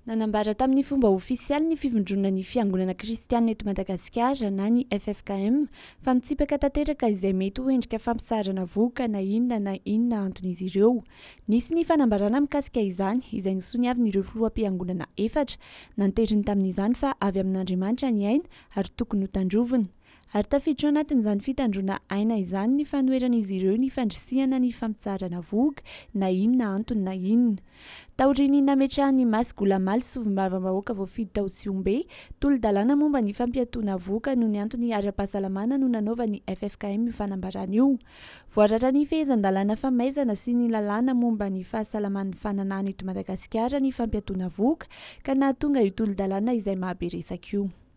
Nanambara tamin'ny fomba ofisialy ny fivondronana ny Fiangonana Kristianina eto Madagasikara na ny ffkm fa mitsipaka tanteraka izay mety ho endrika fampisaharana vohoka na inona na inona anton'izy ireo. Nisy ny fanambarana mikasika izany izay nosoniavin'ireo filoham-piangonana efatra nanteriny tamin'izany fa avy amin'Andriamanitra ny aina ary tokony hotandrovina. Ary tafiditra ao anatin'izany fitandroana aina izany ny fanoheran'izy ireo ny fandrisihana ny fampitsaharana vohoka na inona antony na inona. Taorian'ny nametrahan'i Mas Goulamaly solombavambahoaka voafidy tao Tsihombe, tolo-dalàna momba ny fampiatoana vohoka noho ny antony ara-pahasalamana no nanaovan'ny ffkm io fanambarana io. Voarara ny fehezan-dalàna famaizana sy ny lalàna momba ny fahasalaman'ny fananahana eto Madagasikara ny fampiatoana vohoka ka nahatonga io tolo-dalàna izay mahabe resaka io.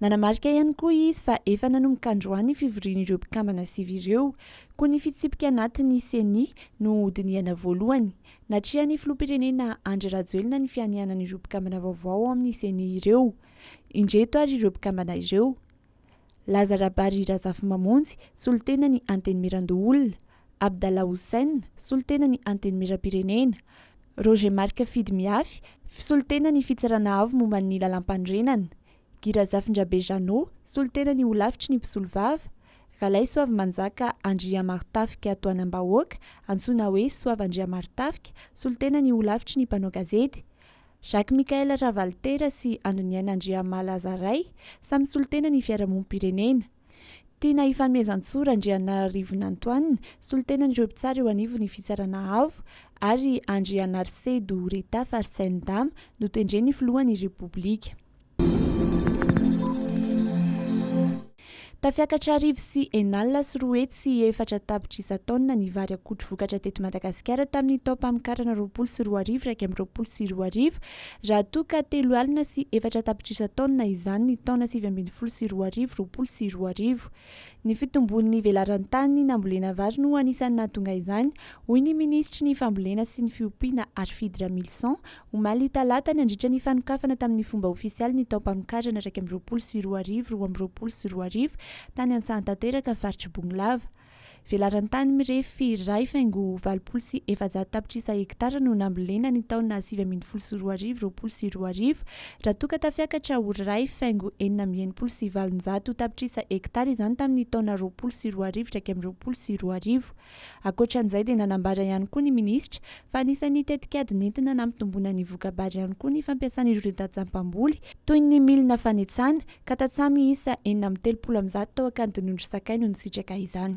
Nanamarika ihany koa izy fa efa nanomboka androany ny fivorian'ireo mpikambana sivy ireo, koa ny fitsipika anatin'ny Ceni no hodinihana voalohany. Natrehan'ny filoham-pirenena Andry Rajoelina ny fianianan'ireo mpikambana vaovao ao amin'ny Ceni ireo. Indreto ary ireo mpikambana ireo, Laza Rabary Razafimamonjy, solontenan'ny Antenimierandoholona, Abdallah Hussein, solontenan'ny Antenimierampirenena, Roger Marc Fidy Miafy, solontenan'ny Fitsarana Avo momba ny Lalàmpanorenana, Guy Razafindrabe Jeannot, solontenan'ny Holafitry ny Mpisolovava, Ralaisoavimanjaka Andriamaritafika Tohanambahoaka, antsoina hoe Soava Andriamaritafika, solontenan'ny Holafitry ny Mpanao Gazety, Jacques Michael Ravalitera sy Andriniaina Andriamalazaray, samy solontenan'ny Fiarahamonim-pirenena. Tiana hifanomezan-tsoa Randrianaarivonantoanina, solontenan'ireo mpitsara eo anivon'ny Fitsarana Avo, ary Andrianarse Doureta Farsene Dama, notendren'ny Filohan'ny Repoblika. Tafiakatra arivo sy enin'alina sy roa hetsy sy efatra tapitrisa taonina ny vary akotry vokatra teto Madagasikara tamin'ny taom-pamokarana roapolo sy roa arivo iraika amby roapolo sy roa arivo, Raha toa ka telo alina sy efatra tapitrisa taonina izany ny taona sivy ambin'ny folo sy roa arivo, roapolo sy roa arivo. Ny fitomboan'ny velaran-tany nambolena vary no anisan'ny nahatonga izany, hoy ny minisitry ny Fambolena sy ny fiompiana Arfid Ramilison, omaly talata nandritra ny fanokafana tamin'ny fomba ofisialy ny taom-pamokarana iraika amby roapolo sy roa arivo, roa amby roapolo sy roa arivo, tany Antsahantanteraka, faritr'i Bongolava. Velaran'ny tany mirefy iray faingo valopolo sy efajato tapitrisa hektara no nambolena ny taona sivy ambin'ny folo sy roa arivo roapolo sy roa arivo, raha toa ka tafiakatra ho iray faingo enina amby enimpolo sy valonjato tapitrisa hektara izany tamin'ny taona roapolo sy roa arivo iraika amby roapolo sy roa arivo. Ankoatra an'izay dia nanambara ihany koa ny minisitra fa anisan'ny tetikady nentina nampitomboina ny voka-bary ihany koa ny fampiasana ireo tantsampamboly toy ny milina fanetsana, ka tantsaha miisa enina amby telopolo amin'ny zato tao Ankadinondry Sakay no nisitraka izany.